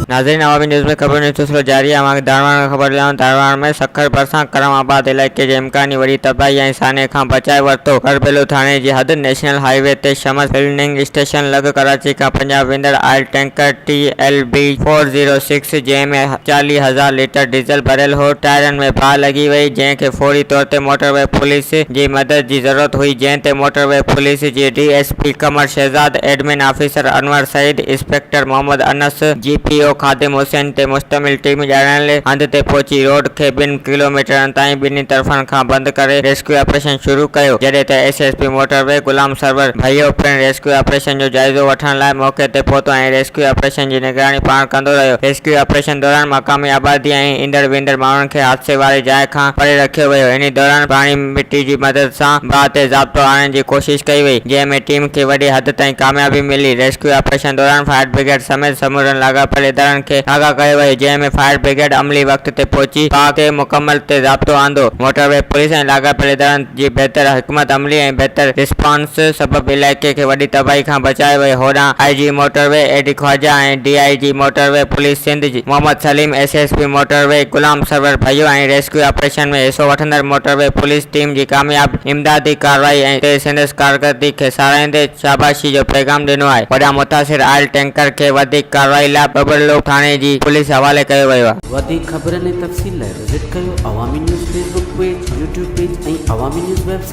ناظرين عوامي نيوز ۾ خبرن جو سلسلو جاري آهي اوهان کي ڌاڻواڻ کان خبر ڏياريون ڌاڻواڻ ۾ سکر ڀرسان ڪرم آباد علائقي جي امڪاني وڏي تباهي ۽ سانحي کان بچائي ورتو کرٻيلو ٿاڻي جي حد نيشنل هاء وي تي شمس فلننگ اسٽيشن لڳ ڪراچي کان پنجاب ويندڙ oil tanker T L B four zero six جنهن ۾ چاليهه هزار ليٽر ڊيزل ڀريل هو، ٽائرن ۾ باهه لڳي وئي، جنهن کي فوري طور تي موٽر وي پوليس جي مدد جي ضرورت هئي، جنهن تي موٽر وي پوليس جي D S P Qamar Shahzad, admin officer Anwar Saeed, inspector Muhammad Anas, G P او خادم حسين تي مشتمل ٽيم ڄاڻايل هنڌ تي پهچي روڊ کي ٻن ڪلوميٽرن تائين ٻنهي طرفن کان بند ڪري ريسڪيو آپريشن شروع ڪيو، جڏهن ته S S P motorway Ghulam Sarwar Bhayo پڻ ريسڪيو آپريشن جو جائزو وٺڻ لاء موقعي تي پهتو ۽ ريسڪيو آپريشن جي نگراني پاڻ ڪندو رهيو. ريسڪيو آپريشن دوران مقامي آبادي ۽ ايندڙ ويندڙ ماڻهن کي حادثي واري جاء کان پري رکيو ويو. انهي دوران پراڻي مٽي جي مدد سان باهه تي ضابطو آڻڻ جي ڪوشش ڪئي وئي، جنهن ۾ ٽيم کي وڏي حد تائين ڪاميابي ملي. ريسڪيو آپريشن دوران فائر برگيڊ سميت سمورن لاڳاپيل ادارن کي آگاهه ڪيو ويو، جنهن ۾ فائر برگيڊ عملي وقت تي پهچي باهه کي مڪمل تي ضابطو آندو. موٽر وي پوليس ۽ لاڳاپيل ادارن جي بهتر حڪمت عملي ۽ بهتر رسپانس سبب علائقي کي وڏي تباهي کان بچايو ويو، هوڏانهن I G motorway A D Khawaja ۽ D I G motorway police Sindh جي Muhammad Saleem, S S P motorway Ghulam Sarwar Bhayo ۽ rescue operation ۾ حصو وٺندڙ موٽر وي پوليس ٽيم جي ڪامياب امدادي ڪارروائي تي سندس ڪارڪردگي کي ساراهيندي شاباشي جو پيغام ڏنو آهي، هوڏانهن متاثر آئل ٽينڪر کي وڌيڪ ڪارروائي لاء ٻٻرلو ٿاڻي جي پوليس حوالي ڪيو ويو آهي. وڌيڪ خبرن ۽ تفصيل لاء وزٽ ڪريو Awami News Facebook page, YouTube page ۽ Awami News web site.